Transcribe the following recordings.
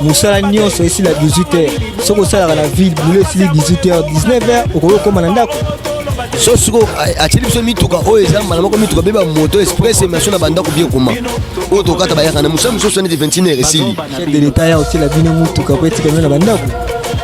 mosala nyonso esila 18 heures soki osalaka na ville bulo esili 18 heures 19 heures okoki okoma na ndako so siko atyeli biso mituka oyo eza mbala moko mituka mpe bamoto express emission na bandako bie koma oyo tokata bayaka na mosala mosusu neti 21 heure esili de leta ya otyela bino motuka mpo etika bino na bandako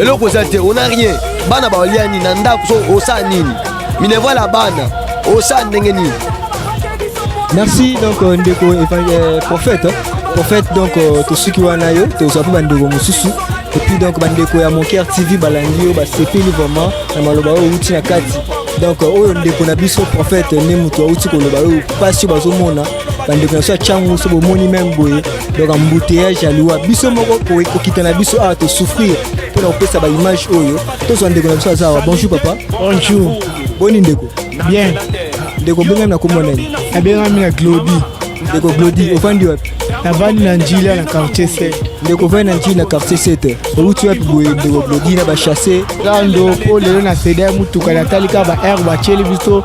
eloko eza te ona rien bana baolia nini na ndako so osala nini minerval ya bana osala ndenge nini merci donc euh, ndeko euh, prophète prophète donc euh, tosuki wana yo tozwa mpe bandeko mosusu epuis donc bandeko ya monker tv balandi yo basepeli vraiment na maloba oyo outi na kati donc oyo ndeko na biso prophète nde moto auti koloba oyo mpasi oyo bazomona bandeko na biso ya cango so bomoni meme boye donc embouteillage ya liwa biso moko kokita na biso awa tosouffrir mpo na kopesa baimage oyo tozwa ndeko na biso aza awa bonjour papa bonjour boni ndeko bien ndeko obengami na kombo nani abengami na glodi ndeko glodi ofandi wapi navandi na njila na quartier 7 ndeko ovandi na njili na quartier 7 owuti wapi boye ndeko glodi na bachasse lando mpo lelo na seda ya motuka natali kaka baheure batyeli biso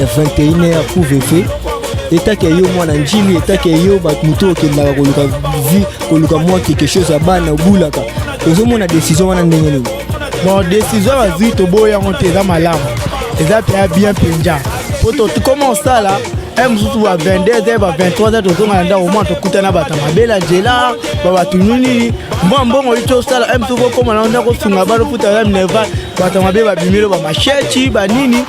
ya 21h pour VV etake yo mwana njili etake yo bato moto okendaka koluka vi koluka mwa quelque chose ya bana obulaka ozomona décision wana ndenge nini bon décision bazwi toboyi yango te eza malamu eza mpenza bien mpenja mpo tokoma osala e mosusu ba 22 heures ba 23 heures tozonga na ndako mwana tokutana bato mabe na nzela babato nini mwa mbongo oyi tosala e mosusu kokoma na ndako osunga bana ofuta ya minerval bato mabe babimelo bamasheti banini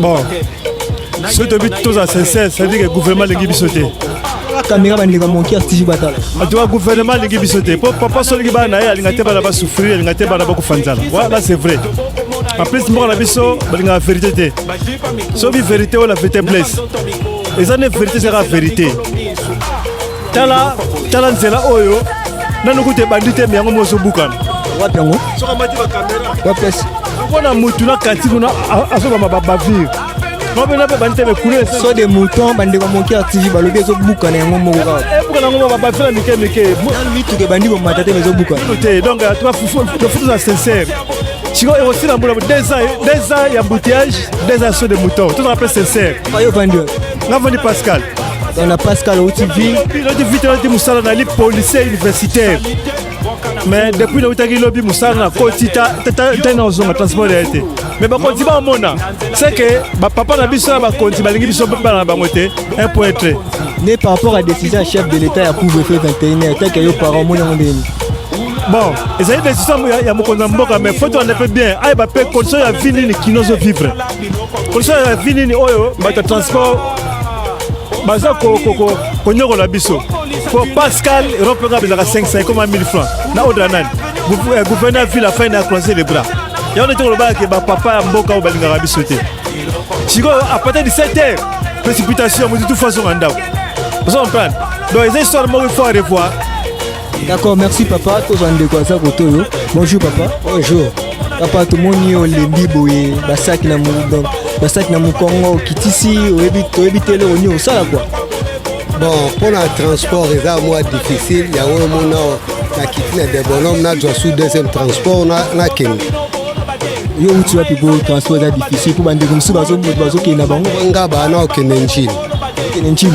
bon soki toyebi tozala sincère cetadire ke gouvernement alingi biso te kamera bandeko moki atiji batala atuka gouvernement alingi biso te mpo papa solingi bana na ye alinga te bana basouffrir alinga te bana bakufa nzala wana c'est vrai en plus mboka na biso balingaka verité te soki verité oyo la verité blesse eza nde verité ezaka verité tala tala nzela oyo nanu kutu ebandi te yango mo ozobukana wapi yango soki amati bakamera wapesi mpona motu na kati kuna azobama babavire mabena mpe bandi te mekule so de mouton bandeko moke ya tv balobi ezobukana yango moko kaka eh, ebukana yango babafela mike mike mituka ebandi komata te mezobukana te donc tofutu na sincère sikoyo ekosila mbula deux ans ya embouteillage deux ans so de mouton tozala mpe sincère nga fandi pascal dans la Pascal Outivi. Loti vite loti musala na li policier universitaire. Mais depuis le utaki lobi musala na koti ta ta ta na zonga transport ya te. Mais ba koti ba mona c'est que ba papa na biso ba koti ba lingi biso ba na bango te un point être. Mais par rapport à décision ya chef de l'état ya couvre-feu 21h, tant que yo parents mona ngondeni. bon ezali décision ya mokonzi ya mboka mais faut tolanda mpe bien ayeba mpe condition ya vie nini kino ozo vivre Condition ya vie nini oyo bato ya transport baza konyokola biso po pascal europe nga bezaka 500 ekoma 1000 francs na ordre ya nani eh, gouverneur ville afai na croise le bras yango nde tokolobaka ke bapapa ya mboka oyo balingaka biso te sikoyo apartir du 7 heures précipitation motutu fo azonga ndako ozo comprendre donc eza histoire moko il faut arevoir D'accord, merci papa. Tozwa ndeko aza koto yo. Bonjour papa. Bonjour. Papa tomoni yo olembi boye basaki na donc basaki na mokongo okitisi oyebi toyebi te eloko nini osala kua bon mpo na transport eza mwa difficile yango omona nakiti na debonome nazwa su deuxième transport nakende yo outi wapi po transport eza difficile mpo bandeko mosusu bazokende na bango nga bana okende ncini okende ncini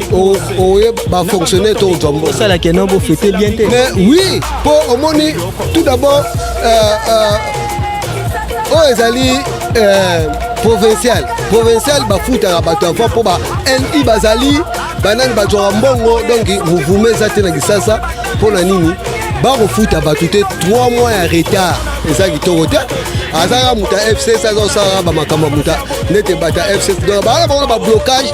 oye bafonctionnaire to ozwa mbongo osala keno bofete bien te mais oui mpo omoni tout d'abord euh, euh, oyo ezali euh, provincial provincial bafutaka bato avant mpo ba ni bazali banani bazwaka mbongo donc mouvuma eza te na kisasa mpo na nini bakofuta bato te 3 mois ya retard eza kitoko te azalaka moto ya fcs aza kosalaka bamakambo ya moto nete bato ya fcs donc bazalaka bango na bablocage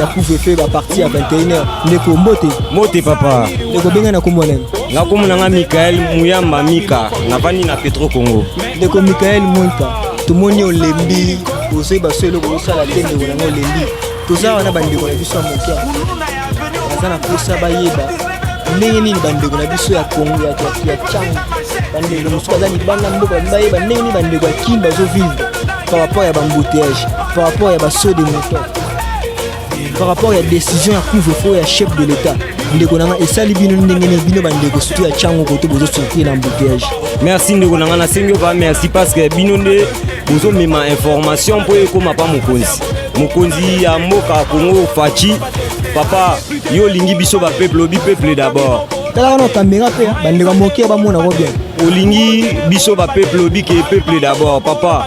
ya couvre-feu ba parti ya 21h ndeko mbote mbote papa ndeko benga na kombo nani nga kombo na nga Michael Muyamba Mika navandi na Petro Congo ndeko Michael Mika tomoni olembi ozwi baso eloko osala te ndeko na nga olembi toza wana bandeko na biso ya moke baza na mposa bayeba ndenge nini bandeko na biso ya Congo ya cango bandeko mosusu baza libanda mboka bayeba ndenge nini bandeko ya kin bazovivre par rapport ya bambouteyage par rapport ya basaut de moteur par rapport ya décision ya couvre-feu ya chef de l'état ndeko na nga esali bino ndenge nini bino bandeko surtout ya chango koto bozo souffrir na embouteillage merci ndeko na nga nasengi oba merci parce que bino nde bozomema information mpo ekóma pa mokonzi mokonzi ya mboka kongo faci papa yo olingi biso bapeuple obi peuple d'abord talaka na kamera mpe bandeko moke bamonako bien olingi biso bapeuple obi ke peuple d'abord papa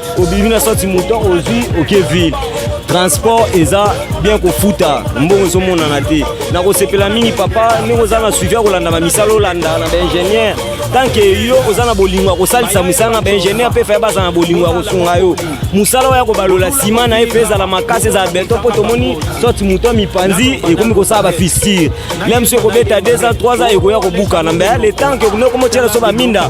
obimi na soti moto ozwi oke ville transport eza bien kofuta mbongo ezomonana te nakosepela mingi papa ndenge oza na suivi ya kolanda bamisala olanda na baingénieur tanke yo oza na bolingo ya kosalisa mosala na baingénieur mpe faye baza na bolingo ya kosunga yo mosala oyo ya kobalola nsima na ye mpe ezala makasi ezala beton mpo tomoni soti moto ya mipanzi ekomi kosala bafistire meme so ekobeta 2 ans 3 ans ekoya kobukana mbe le temps ke okomi okomotyela so baminda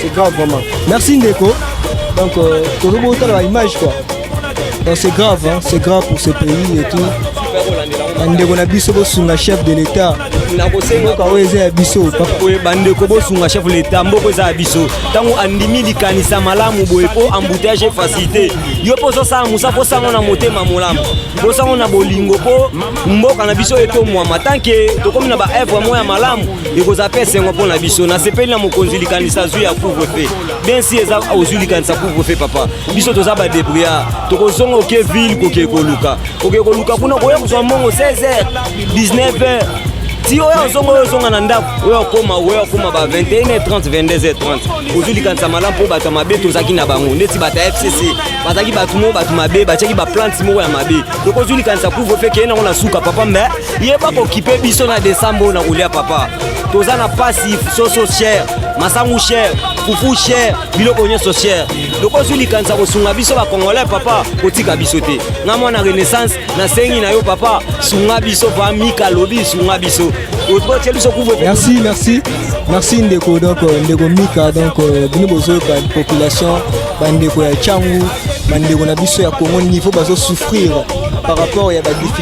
c'est grave vraiment merci ndeko donc euh, tozo botala ba image quoi donc c'est grave hein, c'est grave pour ce pays et tout bandeko na biso bosunga chef de l'état nakosengoka oyo eza ya biso boye bandeko bosunga chef leta mboko eza ya biso ntango andimi likanisa malamu boye mpo embouteillage efacilité yo mpo ozosala mosa mpo sango na motema molamu mpo sango na bolingo mpo mboka na biso etomwama tanke tokomi na baevre moko ya malamu ekozala mpe esengo mpo na biso nasepeli na mokonzi likanisa azwi ya couvre fe densi eza ozwi likanisa couvre fe papa biso toza badebriard tokozonga oke ville kokee koluka kokee koluka kuna koya kozwa mbongo 16 h 19 h ti oyo azonga oyo ozonga na ndako oyo akoma oyo akoma ba 21 30 22 30 ozwi likanisa malamu mpo bato ya mabe tozalaki na bango neti bato ya fcc bazalaki bato moko bato mabe batyaki baplante moko ya mabe tokozwi likanisa couvre fe keye nango na suka papa mbe yeba kokipe biso na desembe oyo na kolia papa toza na pasi soso cher masangu cher fufu cher biloko nyonso cher loko ozwi likanisa kosunga biso bacongolais papa kotika biso te nga mwana renaissance nasengi na yo papa sunga biso pa mika lobi sunga biso otie biso kuve merci merci merci ndeko donc euh, ndeko mika donc euh, bino bozoyoka population bandeko ya cangu bandeko na biso ya congo niveau bazosouffrir par rapport ya badiffi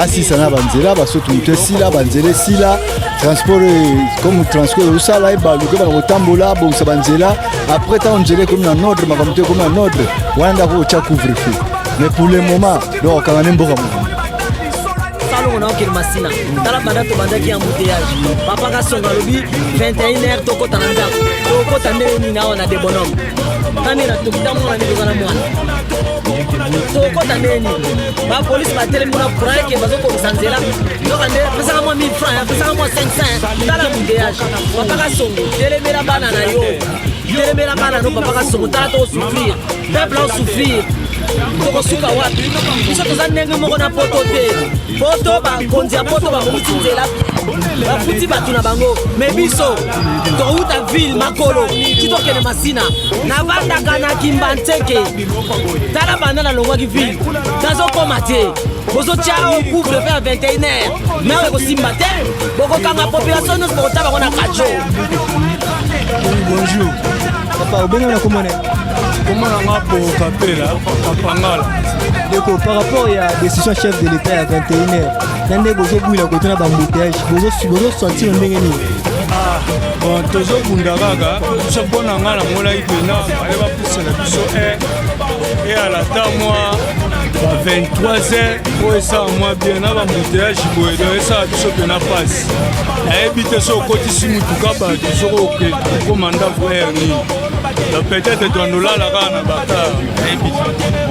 asisa na banzela basoto moto esila banzela esila transport comme transport osala ye baluka bana kotambola abongisa banzela après ntango nzela ekomi na nordre makambo to ekomi na nordre wana ndako otya couvre feu mais pour le moment donc okanga ne mboka mobimba salongo na okende masina tala banda tobandaki ya mbuteyage papa kasonga alobi 21 heure tokota na ndako tokota ndenge nini awa na debonome nani na tokitamona nini toza na mwana tokota ndenge nini bapolisi batelemi kuna courant eke bazokokisa nzela nzoka nde pesaka mwa 1000 franc pesaka mwa 500 tala mouteage papaka songo telemela bana na yo telemela bana no papaka songo tala tokosouffrir peuple aosouffrir tokosuka wapi biso toza ndenge moko na poto te poto bakonzi ya poto babongisi nzela bafuti bato na bango me biso tokouta ville makolo ti tokende masina navandaka na kimbanseke tala banda nalongwaki vile nazokoma te bozotya o couvre mpe ya 21 heure nao ekosimba te bokokanga population nyonso bokotya bango na kajo bonjour papa obenge na komone komona nga po kapela kapangala ndeko par rapport ya décision chef de l'état ya 21 heure na nde bozobwila kote na bambouteillage bozosentir ndenge nini ah, tozobunda kaka mpo na ngai namolaki mpenza na biso e eyala ata mwa ba 23 heures oyo esala mwa bien na bambuteage boye do esala biso mpena mpasi nayebi te soki okotisi motuka bato soki oke okoma ndako heure nini do peut-être tondolala kaka na bakar nayebi te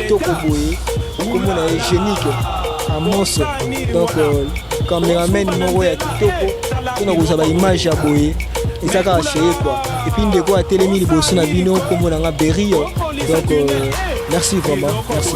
kitoko boye kombo na ye genique amoso donc euh, cameraman moko ya kitoko mpona kozwa baimage ya boye eza kaka cheye kua epuis ndeko atelemi liboso na bino kombo na nga berio donc euh, merci vraiment merci